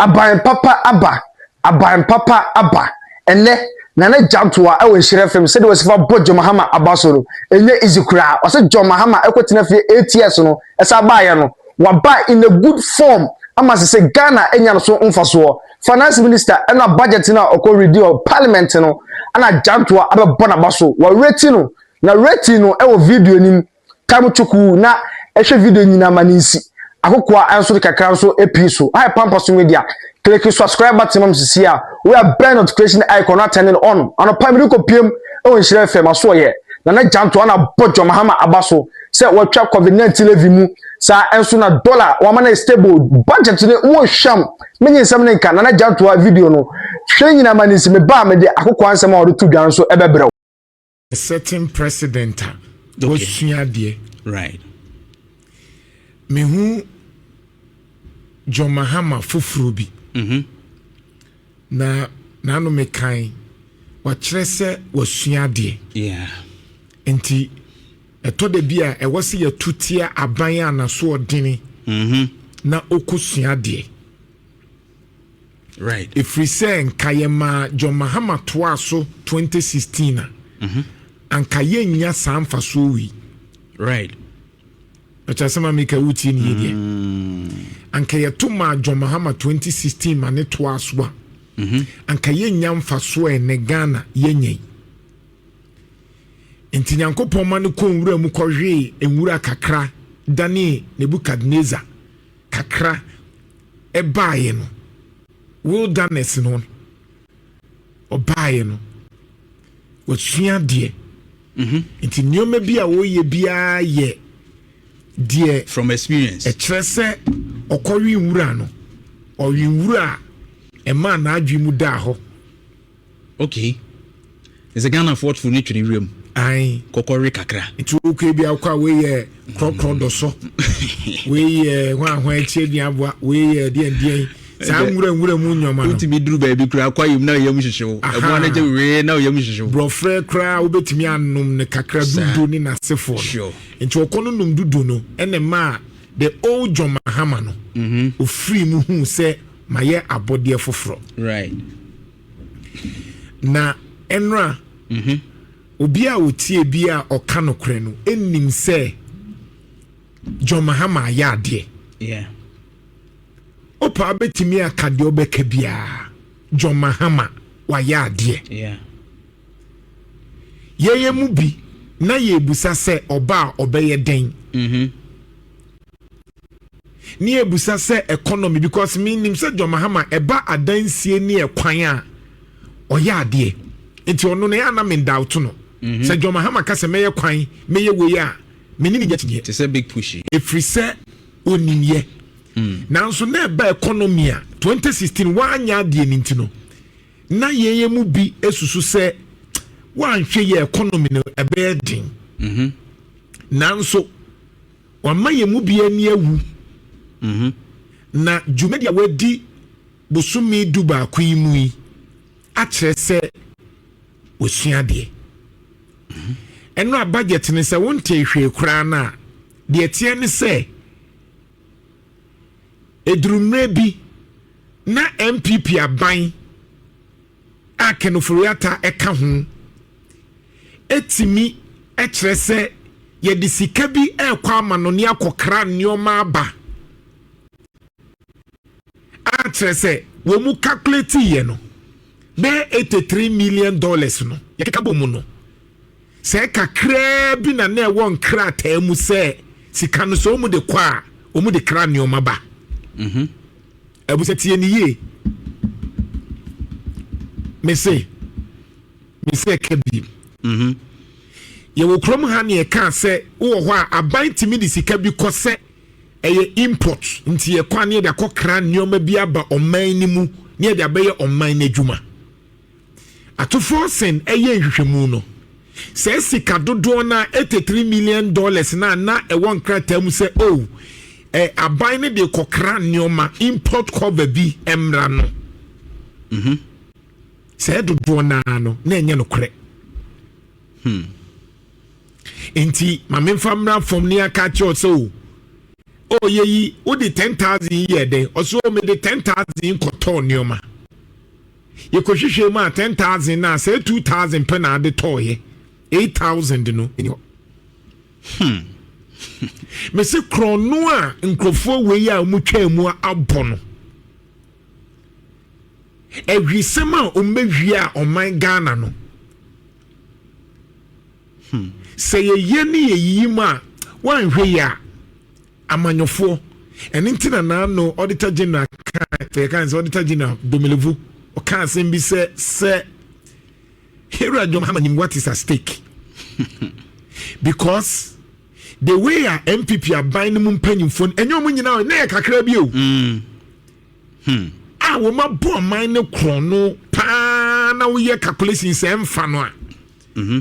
Aban papa aba, aban papa aba. Ɛnɛ, Nana Gyantoa wɔ Nhyira FM sɛdeɛ wɔsi fa bɔ John Mahama aba so no, ɛnyɛ easy koraa. Wɔsɛ John Mahama ɛkɔtena fie eight years no, ɛsan baeɛ no, waba in a good form ama sɛ sɛ Ghana anya no so mfasoɔ. Finance Minister ɛna budget no a ɔkɔ read wɔ parliament no, ɛna Gyantoa abɛbɔ n'aba so. Wɔreti no, na rating no ɛwɔ video no mu. Ka mu chukuu na ɛhwɛ video nyinaa ma no nsi. Akokoaa nso de kakra nso pii so. Hi Pampa So Media, Kliki subscribe button ma me sesie a wura bɛn notification icon na turn it on. Anɔpa mede kɔ piem wɔ Nhyira FM aso ɔyɛ. Nana Gyanto ana bɔ John Mahama aba so sɛ wɔatwa COVID-19 levy mu saa nso na dollar wɔama no stable. Budget no mu hwam menye nsɛm ne nka Nana Gyanto a video no hwɛ nyinaa ma no nsi. Meba a mede akokoaa nsɛm a wɔde to dwa no nso bɛbrɛ wo. certain president a wasua adeɛ right mehu John Mahama foforɔ bi mm -hmm. na n'ano mekan wakyerɛ sɛ wasua adeɛ yeah. nti ɛtɔ da bi a ɛwɔ sɛ yɛto tia aban a n'asoɔdene mm -hmm. na ɔkɔsua adeɛ Right. Ɛfiri sɛ nka yɛmaa John Mahama toaa so 2016 a, mhm. anka yɛnnya saa mfasoɔ wei. Right. Ɛkyɛ ma meka wotie ne yɛdeɛ. Mm. Anka yɛto maa John Mahama 2016 ma ne toaa so a, mhm. anka yɛnnya mfasoɔ ɛnɛ Ghana yɛnya yi. Nti Nyankopɔn ma no kɔ nwura mu kɔhwee nwura kakra dane Nebuchadnezzar kakra ɛbaaeɛ no wilderness no ɔbaaeɛ no wasua adeɛ mhm. nti nneɛma bi a wɔyɛ biara yɛ deɛ from experience ɛkyerɛ sɛ ɔkɔwe nwura no ɔwe nwura a ɛmaa n'adwene mu daa hɔ Okay ɛsɛ Ghana foɔ toro ne twere wiram ae kɔkɔ we kakra. Nti wo kwe bi akɔ a wei yɛ krɔkrɔ dɔ so wei yɛ hwan ahwan akyi aduan aboa wei yɛ deɛn deɛn saa nwura nwura mu nneɛma no. Wotumi duru baabi kura akɔ ayom na ɔyam hyehye wo ɛboa no gye wee na ɔyam hyehye wo. Borɔfrɛ koraa wobɛtumi anom no kakra dudu ne n'asefoɔ no nti ɔkɔ no nom dudu no ɛna ɛmaa the old John Mahama no ɔfiri mhm. mu huu sɛ mayɛ abɔdeɛ foforɔ right. na ɛnora mm -hmm. obi a ɔtie bi a ɔka nokorɛ no ɛnim sɛ john mahama ayɛ adeɛ yeah. opa bɛtumi aka deɛ ɔbɛka biara john mahama wayɛ adeɛ yeah. yɛyɛ mu bi na yɛbusa sɛ ɔba a ɔbɛyɛ dɛn mm -hmm. ne ebusa sɛ economy because me nim sɛ John Mahama ɛba adansie ne ɛkwan a ɔyɛ adeɛ nti ɔno no yɛ anam ndawto no mhm. sɛ John Mahama ka sɛ mɛyɛ kwan mɛyɛ wei a me ne ne nya kyiniɛ te sɛ big push yi efiri sɛ onimyɛ mm. nanso na ɛba economy a 2016 wanyɛ adeɛ ne nti no na yɛyɛ mu bi esusu sɛ wanhwɛ yɛ economy no ɛbɛyɛ den mhm. nanso. Wama yɛn mu biara ani awu. Na dwumadi a wɔadi bosome dubaako yi mu yi akyerɛ sɛ wɔasua adeɛ. Ɛnora budget no, sɛ wontee hwee koraa no a, deɛ ɛteɛ ne sɛ ɛduru mmerɛ bi na NPP aban a Kenoforeata ka ho tumi kyerɛ sɛ yɛde sika bi rekɔ amanɔne akɔkra nneɛma aba a kyerɛ sɛ wɔn calculate yɛ no bɛyɛ eighty three million dollars no yɛkeka bɔ mu no sɛ kakraa bi na na ɛwɔ nkrataa mu sɛ sika no sɛ wɔn de kɔ a wɔn de kra nneɛma ba. Mm-hmm. Abusa tie ni yie me se me se ɛka bi mhm. yɛwɔ kurom ha ne ɛka sɛ wowɔ hɔ a aban tumi de sika bi kɔ sɛ ɛyɛ import nti yɛkɔ a ne yɛde akɔkra nneɛma bi aba ɔman no mu ne yɛde abɛyɛ ɔman no adwuma Atufoɔ sen ɛyɛ nhwehwɛmu no, saa sika dodoɔ no a 83 million dollars no a na ɛwɔ nkrataa mu sɛ o oh, eh, aban no de kɔkra nneɛma import cover bi mmra no mm -hmm. saa dodoɔ no ara no na ɛnyɛ nokorɛ hmm. nti ma memfa mmra fam ne aka kyerɛ sɛ o oh, ɔyɛ oh, yi wode 10000 yɛ dɛn ɔsɛ o mede 10000 kɔtɔɔ nneɛma Yɛkɔhwehwɛɛ mu a, ten thousand no a, sɛ two thousand pɛ na ade tɔɔeɛ. Eight thousand no, ɛni hɔ. Hmm. Mese korɔno a nkurɔfoɔ wei a wɔtwaa mu abɔ no, ahwisɛm a wɔbɛhwie a ɔman Ghana no, hmm. sɛ yɛyɛ ne yɛyiyi mu a, woanhwɛ yi a, Amanyɔfoɔ. Ɛno nti na n'ano Auditor General kaa yɛkaa sɛ Auditor General Domelevu ɔkaa asɛm bi sɛ sɛ Harry John Mahama nim what is at stake because the way a npp aban no mu mpanyimfoɔ no ɛnyɛ wɔn nyinaa ɛnna yɛ kakra bi o mm. hmm. a wɔn abɔ ɔman no korɔn no paa na woyɛ calculation sɛ ɛnfa no a. Mm-hmm.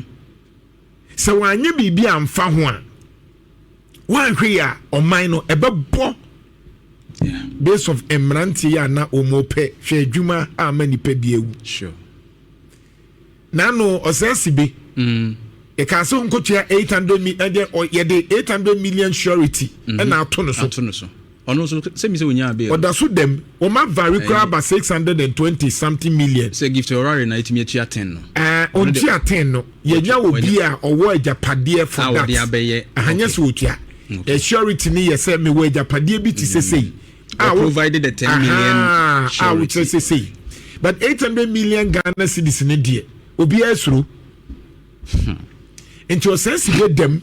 sɛ wɔanyɛ biribi amfa ho a wɔanhwɛ yi a ɔman no ɛbɛbɔ based of mmeranteɛ yi a na wɔpɛ hwɛ adwuma a ama nipa bi awu nano ɔsɛe si bi mm. yɛka sɛ nkotua 800 yɛde 800 million surety mm-hmm. ɛna ato no so ɔno nso sɛ mi sɛ onyaa bail. ɔda so da mu wɔn avare koraa ba six hundred and twenty something million. sɛ gift ɔrare na etumi atua ten no. ɛɛ ɔntua ten no yɛnya wɔ bi a ɔwɔ agyapadeɛ for that ahanyɛ sɛ ɔtua ɛsurity ni yɛ sɛ mewɔ agyapadeɛ bi ti sɛ sɛ yi. a wo provided the ten million surety a wokyerɛ sɛ sɛ yi but eight hundred million ghana cedis ne deɛ obiara soro hmm. nti ɔsɛn si yɛ dɛm.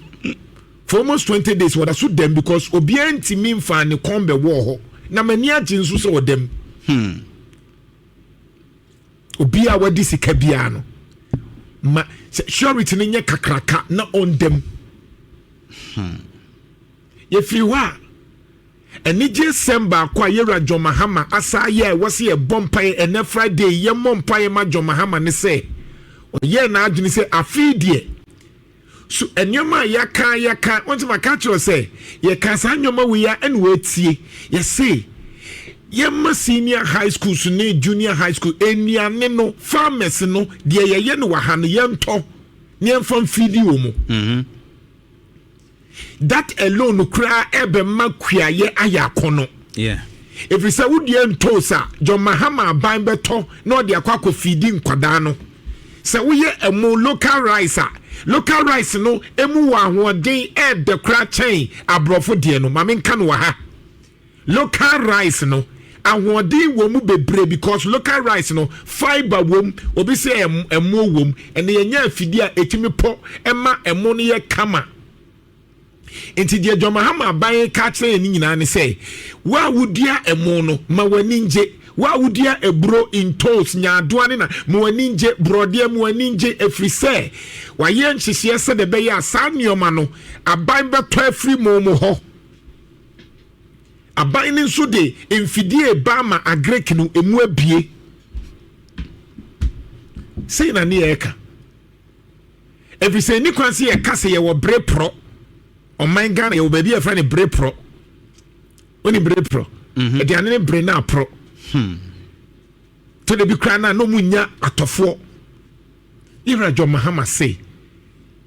For almost twenty days wɔda so dɛm because obiara ntumi nfaa ne kɔn bɛwɔɔ hɔ na m'ani agye nso sɛ ɔdam. Hmm. Obiara a wadi sika biara no ma sɛ surety no nyɛ kakraka na ɔndam. Hmm. Yɛfiri hɔ a anigye sɛm baako a yɛwura John Mahama asa ayɛ a ɛwɔ sɛ yɛbɔ mpaeɛ ɛnɛ Friday yɛmmɔ mpaeɛ ma John Mahama ne sɛ ɔyɛɛ n'adwene sɛ afei deɛ so nneɛma a yɛaka yɛaka wɔn sɛ maka kyerɛ sɛ yɛka saa nneɛma wei a ɛna wɔatie yɛse yɛma senior high schools ne junior high school nnuane no farmers no deɛ yɛyɛ no wɔ ha no yɛntɔ ne yɛmfa mfidi wɔ mu mhm. that alone koraa ɛbɛma kuayɛ ayɛ akɔnɔ ɛfiri sɛ wodeɛ ntoo sa john mahama aban bɛtɔ na ɔde akɔ akɔ fidi nkwadaa no sɛ woyɛ ɛmo local rice a local rice no ɛmu wɔ ahoɔden ɛɛdɛ koraa kyɛn aborɔfo deɛ no maame nka no wɔ ha local rice no ahoɔden wɔ mu bebree because local rice no fibre wɔ mu obi sɛ ɛmo wɔ mu ɛna yɛnyɛ afidie a ɛtumi pɔ ɛma ɛmo no yɛ kama Enti deɛ John Mahama aban reka akyerɛ yɛn no nyinaa ne sɛ, wo a wodua ɛmo no, ma w'ani ngye. Wo a wodua aburo, ntoos, nyaadoa ne na, ma w'ani ngye. Borɔdeɛ, ma w'ani ngye, ɛfiri sɛ wɔayɛ nhyehyeɛ sɛdeɛ ɛbɛyɛ a saa nneɛma no, aban bɛtɔ afiri mo mo hɔ. Aban no nso de mfidie reba ama Agric no, emu abue. Sei na ne yɛreka. ɛfiri sɛ ɛni kwan sɛ yɛka sɛ yɛwɔ bere porɔ ɔman ghana yɛwɔ baabi a yɛfrɛ no bere porɔ wone bere porɔ mhm. aduane ne bere no aporɔ hmm. tɔda bi koraa no a na ɔmu nya atɔfoɔ yɛwura john mahama se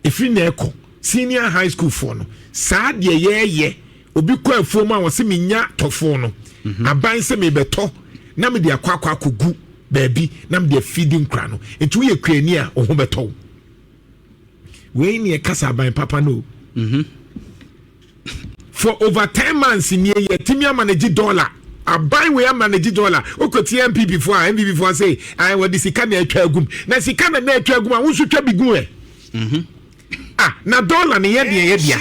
ɛfiri na ɛkɔ senior high school foɔ no saa deɛ yɛɛyɛ obi kɔ afuo mu a wɔse menya tɔfoɔ no mhm. aban sɛ mebɛtɔ na mede akɔ akɔ akɔgu baabi na mede afidi nkora no nti woyɛ kuani a wo ho bɛtɔ wo wei ne ɛkasa aban papa no o mhm. for over ten months nie yɛtumi ama no gye dɔla aban wei ama no gye dɔla wokɔtie mpp foɔ a mpp foɔ sɛ wɔde sika na atwa agum na sika na na atwa agum a wo nso twa bi gu ɛ mhm. Ah na dollar no yɛ deɛ ɛyɛ dea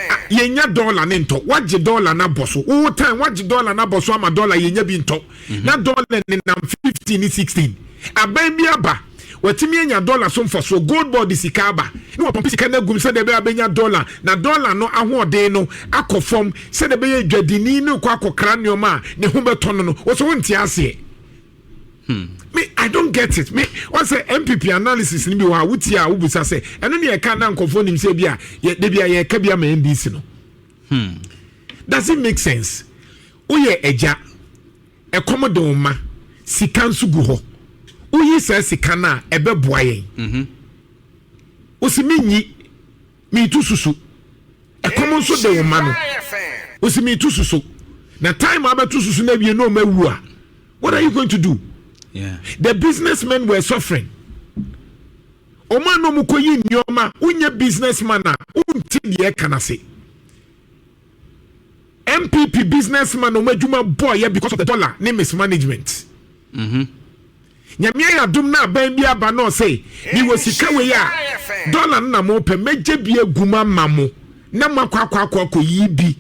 ah yɛnya dollar no ntɔ wagye dollar no abɔ so wo time wagye dollar no abɔ so ama dollar yɛnya bi ntɔ mhm. na dollar ne nam 15 ne 16 aban bi aba watumi anya dollar so mfasoɔ gold board sika aba ne wɔpɔmpe sika no agum sɛdeɛ ɛbɛyɛ abɛnya dollar na dollar no ahoɔden no akɔ fam sɛdeɛ ɛbɛyɛ dwadini no kɔ akɔkra nneɛma a ne ho bɛtɔ no no wɔsɛ wonte aseɛ Hmm. Me, I don't get it. Me, I say MPP analysis ni bi wa wuti a wubusa sɛ ɛno ne ɛka na nkɔfoɔ nim sɛ bi a yɛ de bi a yɛka bi ama NDC no. Hmm. Does it make sense? Woyɛ ɛgya, ɛkɔm de wɔn ma, sika nso gu hɔ. Woyi saa sika no a ɛbɛboa yɛn. Mm-hmm. Wosi mi nyi. Metu susu. Ɛkɔm nso de wo ma no. Osi metu susu. Na time a bɛtu susu na awie na ɔma awu a. What are you going to do? Yeah. The businessmen were suffering. Ɔma na ɔmo kɔ yi nneɛma. Wonyɛ businessman a wonte deɛ ɛka no ase. NPP business man ɔmo adwuma bɔɔ yɛ because of the dollar ne mismanagement. Mm-hmm. Nyamea yɛ adum na aban bi aba na ɔsɛ mi wɔ sika wei a dollar no na mo pɛ mɛgye bi egu ma ma mo na mo akɔ akɔ akɔ akɔ yi bi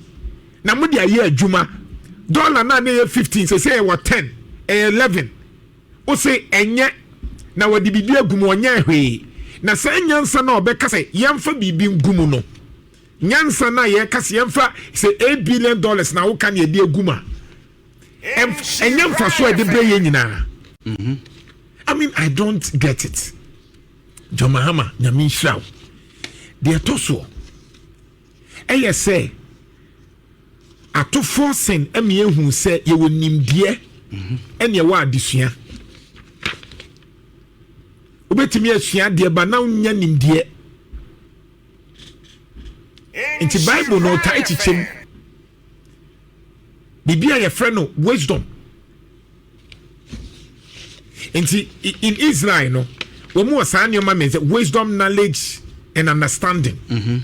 na mo de ayɛ adwuma dollar na ne yɛ fifteen sɛ sɛ ɛwɔ ten ɛyɛ eleven ose ɛnyɛ na wɔde biribi egu mu ɔnyɛ hwee na saa nyansa na ɔbɛka sɛ yɛnfa biribi ngu mu no. Nyansa no a yɛka sɛ yɛmfa sɛ eight billion dollars na woka ne yɛde agu mu a ɛnyɛ mfaso a ɛde brɛ yɛn nyinaa mhm. I mean I don't get it John Mahama nyame nhyira wo deɛ ɛtɔ soɔ ɛyɛ sɛ atofoɔ sen ɛmi ehu sɛ yɛwɔ nimdeɛ ɛna ɛwɔ adesua wobɛtumi asua adeɛ ba na wonya nimdeɛ nti bible no ɔtaa kyekyɛ mu biribi a yɛfrɛ no wisdom nti in israel no wɔn wɔ saa nneɛma mmiɛnsa wisdom knowledge and understanding mm -hmm.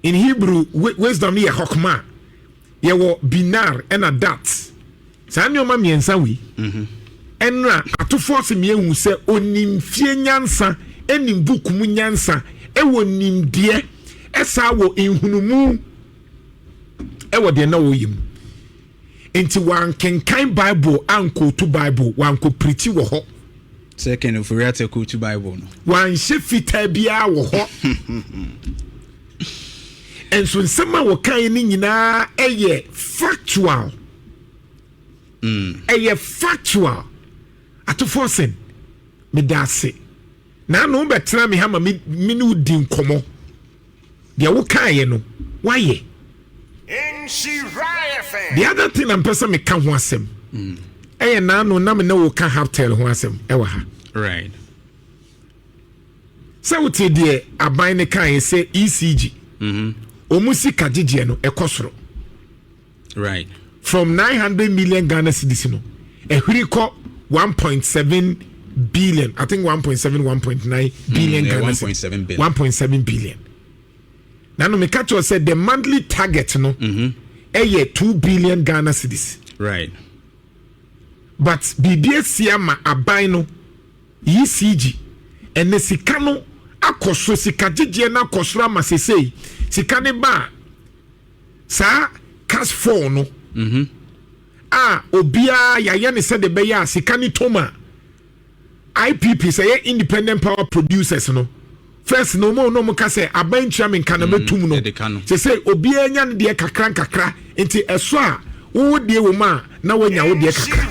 in hebrew wisdom yɛ hokma yɛwɔ binar ɛna dat saa nneɛma mmiɛnsa wei mhm. ɛna atofoɔ se mmiɛhu sɛ onim fie nyansa ɛnim book mu nyansa ɛwɔ nimdeɛ ɛsaa wɔ nhunumu ɛwɔ deɛ na ɔyɛ mu nti wankenkan bible ankɔtu bible wankɔpirikyi wɔ hɔ Second, Ofori Atta quote Bible no. Wanhyɛ fitaa biara wɔ hɔ. Nso nsɛm a wɔkae no nyinaa ɛyɛ factual. Mm. Ɛyɛ factual. Atofoɔ sɛn, meda ase. Naano bɛtena me ha ma me ne wodi nkɔmmɔ. Deɛ wo kaeɛ no wayɛ. The other thing na mpɛ sɛ meka ho asɛm mm. ɛyɛ naano na me ne wo ka haptel ho asɛm ɛwɔ ha right. sɛ wote deɛ aban no kaeɛ sɛ ecg mm-hmm. ɔmu sika gyegyeɛ no ɛkɔ soro right from 900 million ghana cedis no ɛhwiri kɔ 1.7 billion i think 1.7 1.9 hmm, billion mm, ghana cedis 1.7 billion na no meka kyerɛ sɛ the monthly target no mm-hmm. ɛyɛ mm -hmm. 2 billion ghana cedis right but biribi asi ama aban no yi cg ɛne sika no akɔ so sika gyegyeɛ no akɔ soro ama sesei sika ne ba a saa cas four no a obiara yɛayɛ ne sɛdeɛ ɛbɛyɛ a sika no tom a ipp sɛ yɛ independent power producers no first na ɔmo na ɔmo ka sɛ aban ntua me nka na mm, mɛtum no sɛ sɛ obiara nya no deɛ kakra nkakra nti ɛso a wowo deɛ wɔ mu a na woanya wo deɛ kakra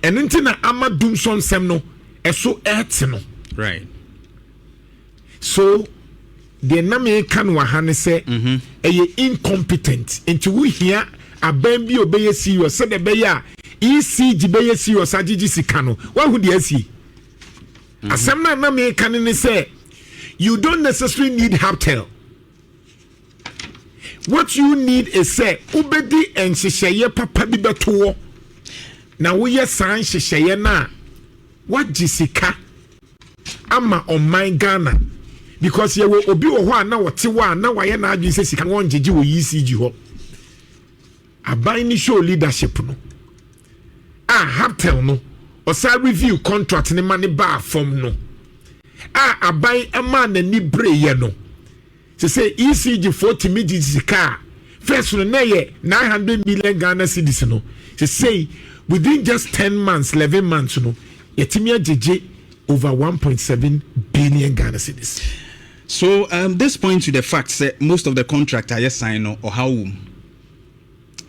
ɛno nti na ama dum sɔ nsɛm no ɛso ɛte no So deɛ na meka no wɔ ha ne sɛ mhm. ɛyɛ incompetent nti wohia aban bi a ɔbɛyɛ serious sɛdeɛ ɛbɛyɛ a ECG bɛyɛ serious agyegye sika no woahu deɛ asie mhm. asɛm no a na meka no ne sɛ you don't necessarily need haptel what you need is sɛ wobɛdi nhyehyɛeɛ papa bi bɛto hɔ na woyɛ saa nhyehyɛeɛ no a woagye sika ama ɔman ghana because yɛwɔ obi wɔ hɔ a na ɔte hɔ a na wayɛ n'adwene sɛ sika wɔn gyegye wɔ ecg hɔ aban ne show leadership no a haptel no ɔsan review contract ne ma ne baa fam no a aban ɛmaa n'ani bereyɛ no. Te sɛ ECG foɔ tumi gye sika a first no na ɛyɛ nine hundred million Ghana cedis no, sesei within just ten months, eleven months no yɛtumi agyegye over one point seven billion Ghana cedis. So um, this points to the fact sɛ most of the contract a yɛsan no ɔhaw wom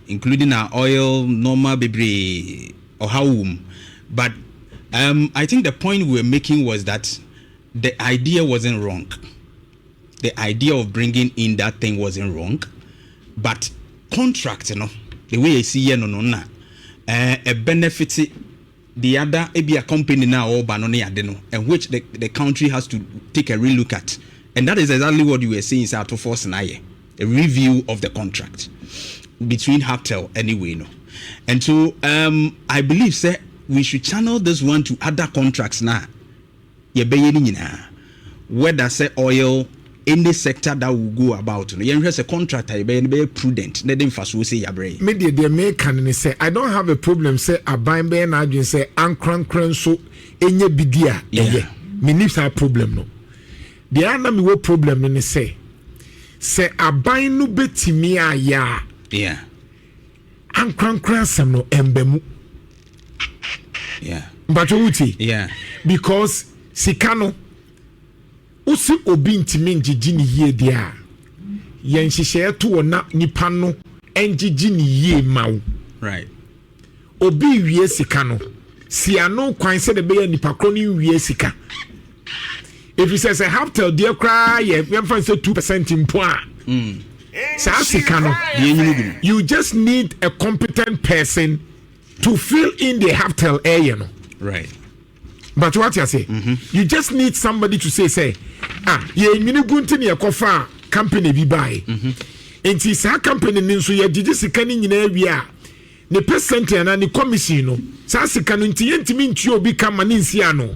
including our oil nɔɔma bebree ɔhaw wom but um, I think the point we were making was that the idea wasn't wrong. the idea of bringing in that thing wasn't wrong but contract no the way esi yɛ no no na ɛ benefit the other ebi a company na ɔba no ne ade no and which the the country has to take a relook at and that is exactly what you were saying sɛ ato force na ayɛ a review of the contract between Haptel anyway no and so um, I believe sɛ we should channel this one to other contracts na. yɛbɛyɛ ne nyinaa whether sɛ oil any sector that will go about no yɛnhwɛ sɛ contract a yɛbɛyɛ no bɛyɛ prudent na ɛde mfasoɔ sei abrɛ yɛn. Me deɛ deɛ meka no ne sɛ I don't have a problem sɛ aban bɛyɛ n'adwene sɛ ankorankorɛ nso ɛnyɛ bi di a ɛyɛ menni saa problem no deɛ a na mewɔ problem no ne sɛ sɛ aban no bɛtumi ayɛ a. Yeah. ankorankora asɛm no ɛmba mu mpatwɛ wotie because sika no wosi obi ntumi ngyegye ne yie deɛ a yɛn nhyehyɛeɛ to wɔ na nipa no ngyegye ne yie ma wo obi wie sika no si ano kwan sɛdeɛ ɛbɛyɛ nipa korɔ no nwie sika ɛfiri sɛ sɛ haptel deɛ koraa yɛ yɛmfa sɛ 2 percent mpo a mm. saa sika no you just need a competent person to fill in the haptel ɛyɛ eh, no right but what you say mm-hmm. you just need somebody to say say ah yɛnwini gu nti ne yɛkɔfa company bi bae mm-hmm. nti saa company no nso yɛgyegye sika no nyinaa wie a ne percent anaa ne commission no saa sika no nti yɛntumi ntua obi ka ma ne nsi ano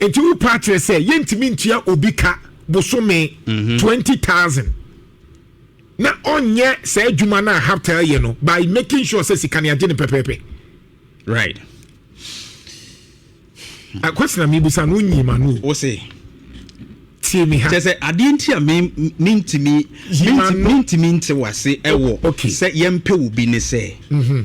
Enti wo paa kyerɛ sɛ yɛntumi ntua obi ka bosome mhm. twenty thousand na ɔnyɛ saa adwuma no a haptel yɛ no by making sure sɛ sika no agye no pɛpɛɛpɛ right akwasena mebisa no wonyi ma no wo se tie me ha kyɛ sɛ adeɛ nti a mentumi mentumi nte wase ɛwɔ sɛ yɛmpɛ wo bi ne sɛ mhm.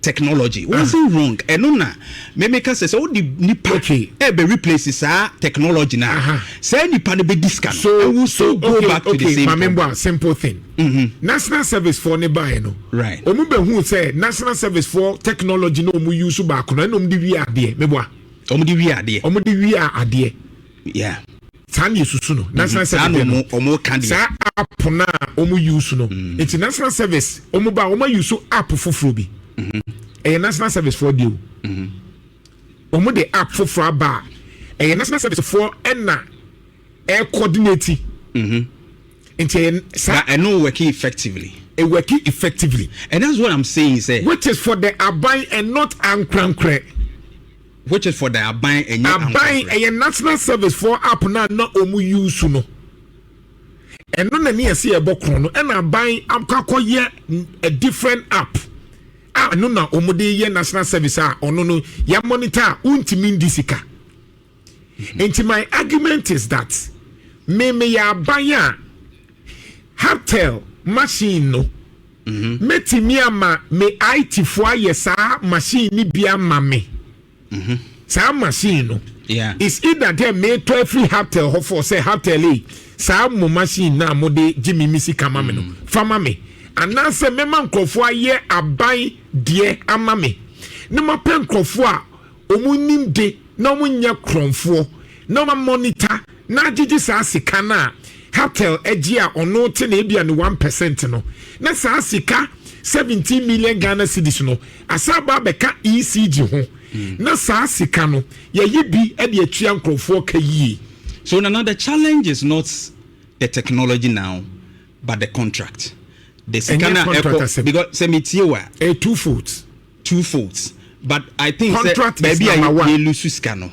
technology wasn't wrong ɛno na me me ka sɛ sɛ wode nipa ɛbɛ replace saa technology na saa nipa no bɛdi sika no it will still go back to the same problem. a simple thing mm-hmm. national service foɔ ne baeɛ no ɔmu bɛhu sɛ national service foɔ technology na ɔmu use baako no ɛna ɔmu de wie adeɛ meboa ɔmu de wie adeɛ ɔmu de wie adeɛ yeah saa na yɛsusu no national service no ɔmo ka deɛ saa app no a ɔmo use no mm. nti national service ɔmo ba ɔmo use app foforɔ bi mm-hmm. ɛyɛ national service foɔ deɛ o mm-hmm. ɔmo de app foforɔ aba a ɛyɛ national service foɔ ɛna ɛcoordinate mm-hmm. nti ɛyɛ saa ɛno working effectively it working effectively and that's what i'm saying sɛ which is for the aban and not ankorankorɛ. Which is for the aban ɛnyɛ ankontrɛ. Aban ɛyɛ national service foɔ app na na wɔn use no ɛno na ne ɛsɛ ɛbɔ korɔn no ɛna aban akɔ akɔ yɛ a different app a ɛno na wɔn de yɛ national service a ɔno no yɛ monitor a wontumi ndi sika nti my argument is that me me yɛ aban a haptel machine no. Mɛtumi ama me IT foɔ ayɛ saa machine no bi ama me. Saa machine no. It's either dɛ meetɔ afiri Haptel hɔ foɔ sɛ Haptel ei saa mo machine no a mode gye me me sika ma me no fa ma me. Anaasɛ mɛma nkurɔfoɔ ayɛ aban deɛ ama me. Na mapɛ nkurɔfoɔ a wɔn nim de na wɔn nyɛ korɔnfoɔ na wɔn amɔnita na agyegye saa sika no a Hartel agye a ɔno te na ebia ne one percent no na saa sika seventeen million Ghana cedis no asan aba abɛka ECG ho hmm. na saa sika no yɛyi bi de atua nkorɔfoɔ ka yie. So nana the challenge is not the technology now but the contract. The sika na ɛkɔ because sɛ mi tie wa. A two foot. two folds but i think sɛ Contract is baabi a number one. yɛ lusu sika no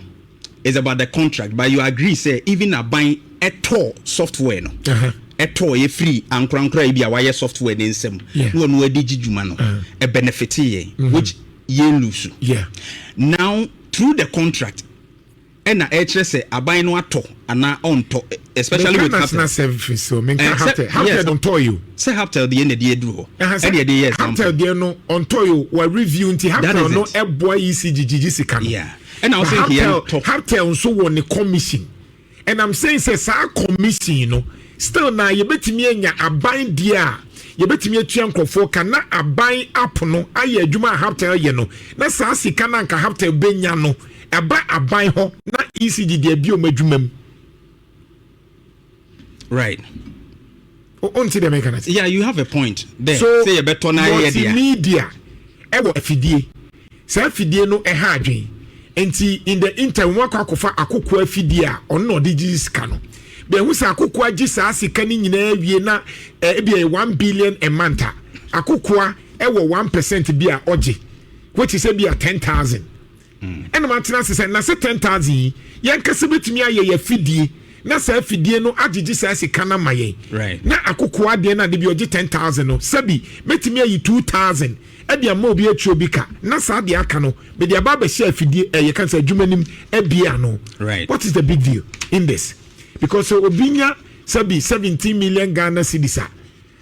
is about the contract but you agree sɛ even aban ɛtɔɔ software no Uh-huh. ɛtɔɔ yɛ firi ankorankora yi bi a wayɛ software ne nsam Yeah. na ɔno adi gye dwuma no Uh-huh. ɛbɛnɛfete yɛn which yɛn lusu Yeah. now through the contract ɛna ɛkyerɛ sɛ aban no atɔ anaa ɔntɔ especially with haptel. meka nasena fi so menka eh, haptel haptel no ntɔ yi o. sɛ haptel deɛ na ɛde aduru hɔ ɛne ɛde yɛ example. haptel deɛ no ɔntɔ yi o wa review nti haptel no ɛboa yi si gyigyi si ka no. ɛna ɔsɛ nkeɛ ntɔ. haptel nso wɔ ne commission and i'm saying sɛ saa commission no still na yɛbɛtumi anya aban deɛ a yɛbɛtumi atua nkurɔfoɔ ka na aban app no ayɛ adwuma a haptel yɛ no na saa sika no anka haptel bɛnya no Ɛba aban hɔ na ECG de abi wɔn adwuma mu. Right. O nti deɛ mɛka na se. Yeah, you have a point there. So sɛ yɛbɛtɔ na ayɛ deɛ. Multimedia ɛwɔ afidie. Saa afidie no ɛha adwene. Nti in the interim wɔn akɔ akɔfa akoko afidie a ɔno na ɔde gye sika no. Bɛhu sɛ akoko agye saa sika no nyinaa wie na ebi ɛyɛ one billion a month a akokoa ɛwɔ one percent bi a ɔgye which is ebi a ten thousand. ɛna matena ase sɛ na sɛ ten thousand yi yɛn kasa betumi ayɛ yɛ afidie na saa afidie no agyegye saa sika no ama yɛn na akokoa adeɛ no ade bi ɔgye ten thousand no sɛbi mɛtumi ayi two thousand ɛde ama obi atua obi ka na saa deɛ aka no mede aba abɛhyɛ afidie ɛyɛ kan sɛ adwuma nim abie ano what is the big deal in this because obi nya sɛbi seventeen million Ghana cedis a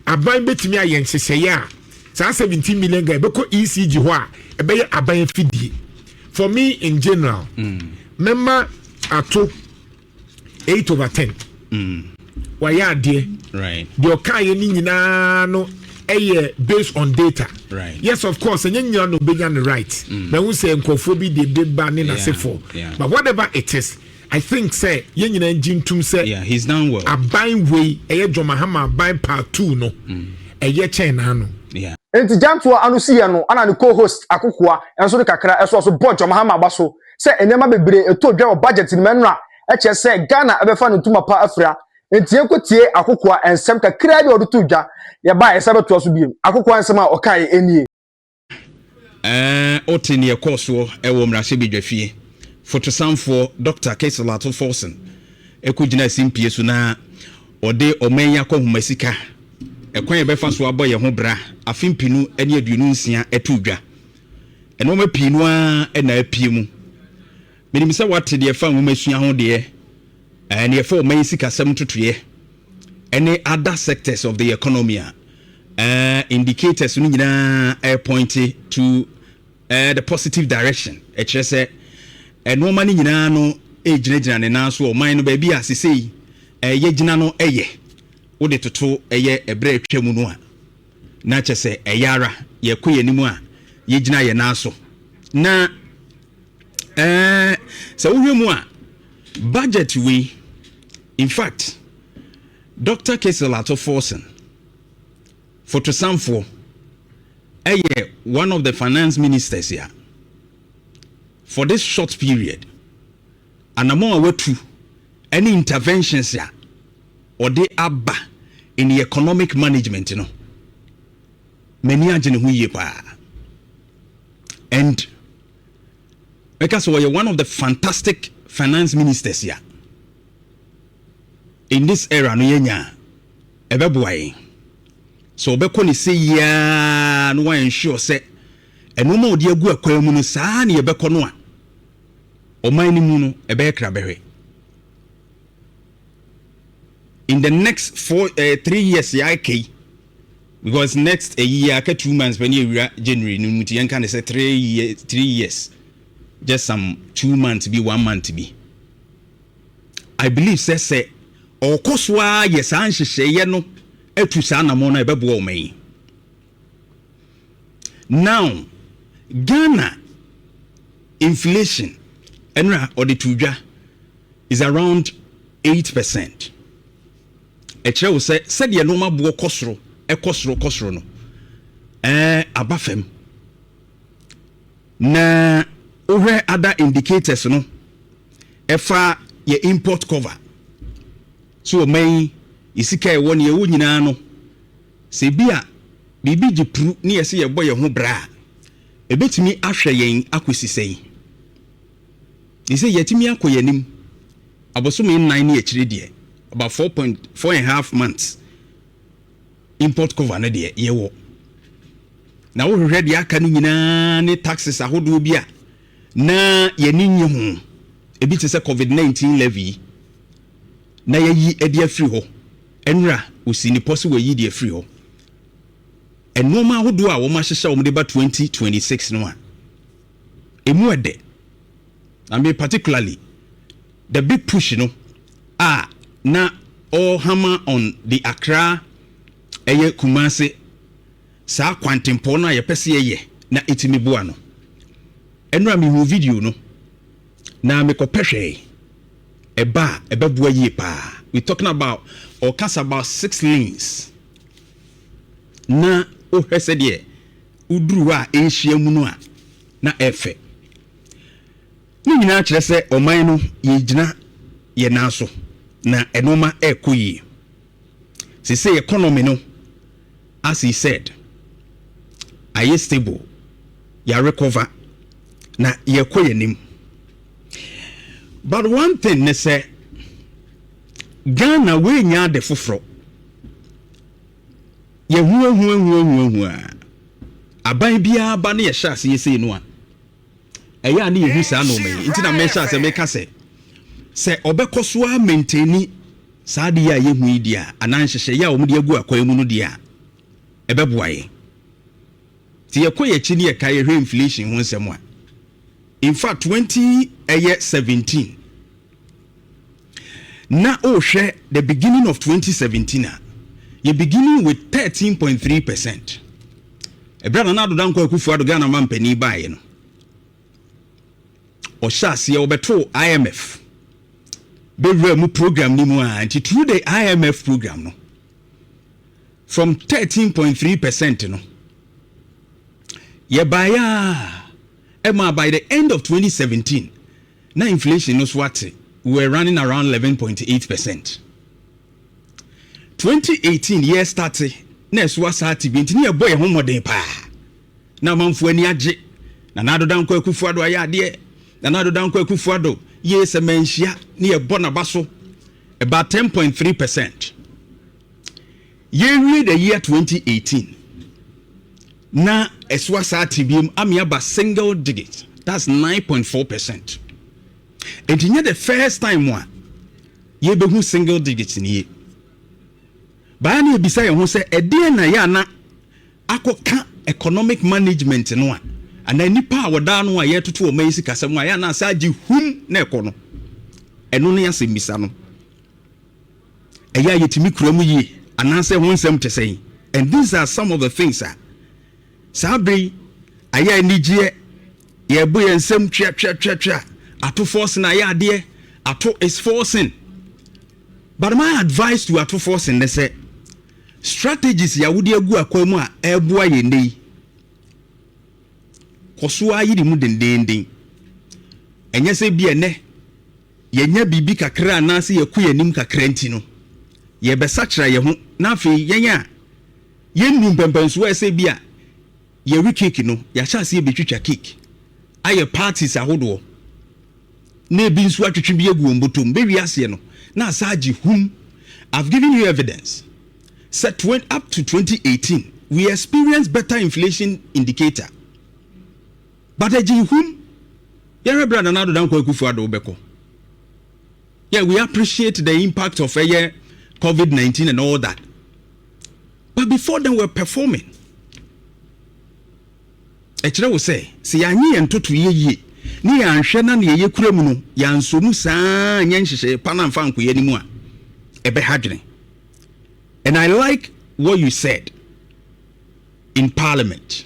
Aban bɛtumi ayɛ nhyehyɛeɛ a saa seventeen million guy bɛkɔ ECG hɔ a ɛbɛyɛ aban afidie for me in general mɛma ato eight over ten wayɛ adeɛ deɛ ɔkaeɛ no nyinaa no ɛyɛ based on data right. yes of course ɛnyɛ nyina na ɔbɛnya no right mm. mahu sɛ nkurɔfoɔ bi de beba ne nasefoɔ yeah. yeah. but whatever it is I think sɛ yɛn nyinaa ngye ntum sɛ yeah, he's done well. aban wei ɛyɛ John Mahama aban part two no mm. ɛyɛ kyɛn n'ano. Yeah. Nti gyantoa ano si yɛ no ana ne co-host akokoa nso de kakra ɛso so bɔ John Mahama aba so sɛ nneɛma bebree ɛtɔ dwa wɔ budget no mɛnora ɛkyɛ sɛ Ghana ɛbɛfa no ntoma pa afira nti yɛnkɔ tie akokoa nsɛm kakra bi a ɔde to dwa yɛba ɛsɛ bɛtoa so biem akokoa nsɛm a ɔkaeɛ ɛnie. Ɛɛ, wote nea ɛkɔɔ soɔ wɔ mmarahyɛbadwafie. Fotosanfoɔ Dɔkta Keisel Ato Forson kɔgyinaa simpie so na ɔde ɔman yi akɔnhoma sika, ɛkwan a yɛbɛfa so abɔ yɛn ho bra afe mpenu ne aduonu nsia too dwa. Nnoɔma pii no ara na apue mu. Menim sɛ woate deɛ ɛfa nwomasua ho deɛ Nea ɛfa ɔman yi sikasɛm ntotoeɛ ne other sectors of the economy a, indicators no nyinaa repointe to the positive direction. Ɛkyerɛ sɛ nnoɔma no nyinaa no ɛregyinagyina ne nan so wɔ ɔman no baabi a sesei yɛgyina no yɛ. Wode toto ɛyɛ ɛberɛ atwa mu no a, na kyɛ sɛ ɛyɛ ara yɛkɔ yɛn anim a yɛgyina yɛn nan so. Na sɛ wohwɛ mu a, Budget wei in fact Doctor Kessel Ato Forson Fotosanfoɔ ɛyɛ one of the finance ministers ya for this short period anamɔn a watu ɛne interventions ya ɔde aba in the economic management no m'ani agye ne ho yie paa and bɛka sɛ ɔyɛ one of the fantastic finance ministers a in this era no yɛanya a ɛbɛboa yɛn sɛ ɔbɛkɔ ne sɛ yiaa no wa ensure sɛ ɛnoɔma ɔde agu akwan mu no saa ne yɛbɛkɔ no a ɔman no mu no ɛbɛyɛ krabɛhwɛ in the next four ɛɛ eh, three years yɛ aka yi because next ɛyi yɛ aka two months pɛ ne ewura january no mu ti yɛn ka ne sɛ three year three years just some two months bi one month bi i believe sɛ sɛ ɔkɔ so ara yɛ saa nhyehyɛeɛ no atu saa anamɔ no a ɛbɛboa ɔma yi now ghana inflation ɛno a ɔde to dwa. Is around eight percent. Ɛkyerɛ wo sɛ sɛdeɛ nnoɔma boɔ kɔ soro, ɛkɔ soro, kɔ soro no, ɛɛ aba fam. Na wohwɛ other indicators no, ɛfa yɛ import cover. So ɔma yi, yɛ sika ɛwɔ ne ɛwɔ nyinaa no, sɛ bi a biribi gye pru ne yɛsɛ yɛbɔ yɛn ho bra a, ɛbɛtumi ahwɛ yɛn akɔsi sɛn? Te sɛ yɛatumi akɔ yɛn anim abosome nnan ne akyire deɛ, about four point four and half months import cover no deɛ yɛwɔ. Na wohwehwɛ deɛ aka no nyinaa ne taxes ahodoɔ bi a na yɛne nye ho. Ebi te sɛ COVID-19 levy yi, na yɛayi de afiri hɔ. Ɛnora ɔsi ne pɔ sɛ wɔayi de afiri hɔ. Nnoɔma ahodoɔ a wɔahyehyɛ wɔn de ba 2026 no a, emu ɛdɛ na me particularly the big push no a na ɔ hammer on the Accra ɛyɛ Kumasi saa kwantempɔn no a yɛpɛ sɛ yɛyɛ na ɛtumi boa no. Ɛnora me hu video no na me kɔ pɛ hwɛe ɛba a ɛbɛboa yie paa. We talking about ɔkasa about six lanes na wohwɛ sɛdeɛ woduru hɔ a nhyia mu no a na ɛyɛ fɛ. Ne nyinaa kyerɛ sɛ ɔman no yɛgyina yɛn nan so na nneɛma ɛrekɔ yie. Seesei economy no, as he said, ayɛ stable, yɛarekɔva na yɛrekɔ yɛn anim. But one thing ne sɛ Ghana woanya ade foforɔ. Yɛhuahuahuahuahua a, aban biara ba ne yɛhyɛ aseɛ sei no a, ɛyɛ a ne yɛhu saa nnoɔma yi. Nti na mehyɛ aseɛ meka sɛ, sɛ ɔbɛkɔ so ara menteni saa adeɛ a yɛhu yi deɛ a, anaa nhyehyɛeɛ a wɔde agu akwan mu no deɛ a, ɛbɛboa yɛn. Nti yɛkɔ yɛn akyi ne yɛka yɛhwɛ inflation ho nsɛm a, in fact 20 ɛyɛ 17 na wohwɛ the beginning of 2017 a, yɛ beginning with 13.3 percent. Ɛberɛ a Nana Addo Dankwa Akufo-Addo Ghana ma mpanin baeɛ no, ɔhyɛ aseɛ ɔbɛtoo IMF bɛwura mu program no mu a nti through the IMF program no from 13.3 percent no yɛbaeɛ a ɛma by the end of 2017 Na inflation no so ate were running around eleven point eight percent twenty eighteen yɛ starte na ɛso asa ate bi nti ne yɛbɔ yɛn ho mmɔden paa na amanfoɔ ani agye Nana Addo Dankwa Akufo Addo ayɛ adeɛ Nana Addo Dankwa Akufo Addo yee sɛ manhyia ne yɛbɔ n'aba so about ten point three percent Yɛrewie the year 2018 na ɛso asaa tebea mu ama aba single digit that's 9.4 percent nti nyɛ the first time a yɛbɛhu single digit nie baa na yɛbisa yɛn ho sɛ ɛdeɛn na yɛ ana akɔka economic management no a anaa nipa a wɔdaa no a yɛtoto ɔma yi sikasɛm a yɛ ana asɛ agye hum na ɛkɔ no ɛno ne asɛmmisa no ɛyɛ a yetumi kura mu yiye anaasɛ ɛho nsɛm te sɛn? And these are some of the things a saa bere yi ayɛ anigyeɛ, yɛrebo yɛn nsam tweatweatweatwea, ato forcing ayɛ adeɛ, ato is forcing. But my advice to ato forcing ne sɛ, strategies yɛ a wode agu akwan mu a ɛreboa yɛn nnɛ yi, kɔ so ara yere mu dendeenden. Ɛnyɛ sɛ bi ɛnɛ, yɛanya biribi kakra anaasɛ yɛakɔ yɛn anim kakra nti no, yɛrebɛsakyera yɛn ho, na afei yɛn a yennuu mpɛmpɛnsoɔ a ɛsɛ bi a yɛwe keeki no, yɛahyɛ aseɛ rebɛtwitwa keeki, ayɛ parties ahodoɔ, na ebi nso atwetwe bi agu wɔn bɔtɔ mu. Bɛwie aseɛ no, na asan agye hum. I've given you evidence sɛ twen up to 2018, we experienced better inflation indicator. But ɛgye nhum yɛhwɛ berɛ a Nana Addo Dankwa Akufo Addo bɛkɔ. Yeah, we appreciate the impact of ɛyɛ covid 19 and all that but before then we were performing. Ɛkyerɛ wo sɛ sɛ yɛanye yɛn ntotoeɛ yie ne yɛanhwɛ na neɛ yɛkura mu no yɛansɔ mu saa nyɛ nhyehyɛeɛ pa no amfa anko yɛn anim a ɛbɛha dwene. And I like what you said in parliament.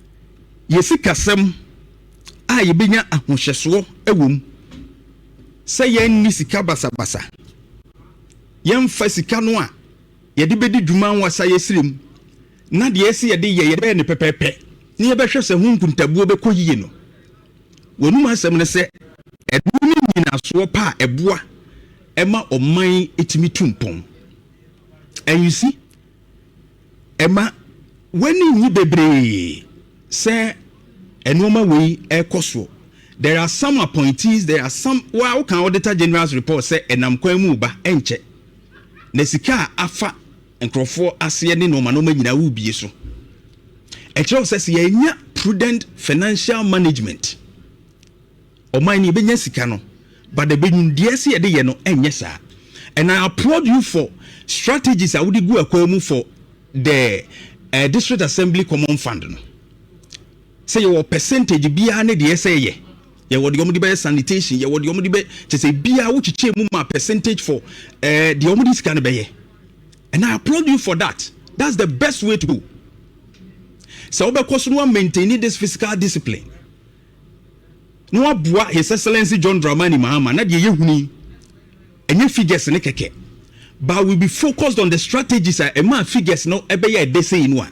Yɛ sikasɛm a yebenya ahohyɛsoɔ wɔ mu sɛ yɛrenni sika basabasa. Yɛmfa sika no a yɛde bedi dwuma wɔ asaeɛsrɛ mu na deɛ ɛsɛ yɛde yɛ yɛbɛyɛ no pɛpɛɛpɛ na yɛbɛhwɛ sɛ ho nkuntabuo bɛkɔ yie no. W'anom asɛm ne sɛ ɛno ne nnyinasoɔ pa a ɛboa ma ɔman tumi tu mpɔn. Ansi. Mma w'ani nnye bebree sɛ nnoɔma wei rekɔ soɔ. There are some appointees, there are some, wo ara woka Auditor General's report sɛ ɛnam kwan mu reba, ɛnkyɛ na sika a afa nkorɔfoɔ aseɛ ne nnoɔma nnoɔma nyinaa worebue so. Ɛkyerɛ wo sɛ sɛ yɛannya prudent financial management, Ɔman no yɛbɛnya sika no but the bɛnwumdeɛ ɛsɛ yɛde yɛ no ɛnyɛ saa and I applaud you for strategies a wode gu akwan mu for the uh, district assembly common fund no sɛ yɛwɔ percentage biara ne deɛ ɛsɛ yɛ yɛwɔ deɛ wɔde bɛyɛ sanitation yɛwɔ deɛ wɔde bɛ kyɛ sɛ biara wokyekyɛ mu ma percentage for uh, deɛ wɔde sika no bɛyɛ and I applaud you for that that's the best way to go sɛ wobɛkɔ so no wa maintain this physical discipline na wɔaboa His Excellency John Dramani Mahama na deɛ yɛhunu yi, ɛnyɛ figures no kɛkɛ but we be focused on the strategies a ɛmaa figures no ɛbɛyɛ ɛdɛ sei no a,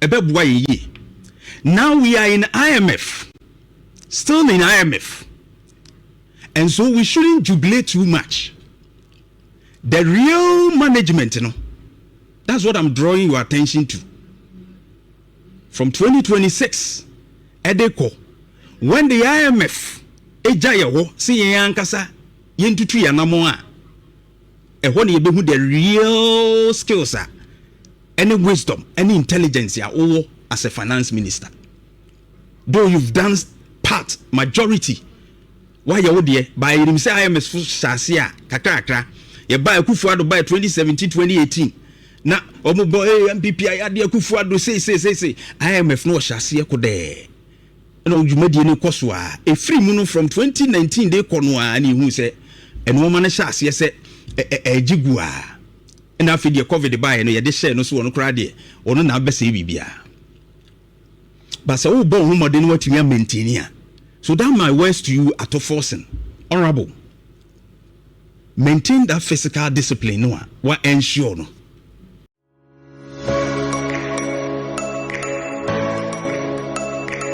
ɛbɛboa yɛn yie. Now we are in IMF, still in IMF, and so we shouldn't jubilate too much. The real management no, that's what I'm drawing your attention to. from twenty twenty six ɛde kɔ when the IMF gya yɛ hɔ sɛ yɛn ankasa yɛn tutu yɛn anamɔn a ɛhɔ na yɛbɛhu the real skills a ɛne wisdom ɛne intelligence a wowɔ as a finance minister though you've done part majority Wayɛ wo deɛ but yɛnim sɛ IMS fo hyɛ aseɛ a kakra kakra. Yɛbaa Akuffo Addo baɛ 2017, 2018 na ɔmo bɔ ee NPP ayade Akuffo Addo sei sei sei sei. IMF no ɔhyɛ aseɛ kodɛɛ na wo dwumadie no kɔ so aa. Ɛfiri mu no from 2019 de kɔ no aa na yɛhuu sɛ nnoɔma no hyɛ aseɛ sɛ ɛ ɛ ɛɛgye gu aa. Ɛna afei deɛ covid baeɛ no yɛde hyɛɛ no so ɔno koraa deɛ ɔno na abɛsɛe biribiara. But sɛ wobɔ wo ho mmɔden na woatumi a maintain a, so that my words to you ato forcing, honourable, maintain that physical discipline no a wa ensure no.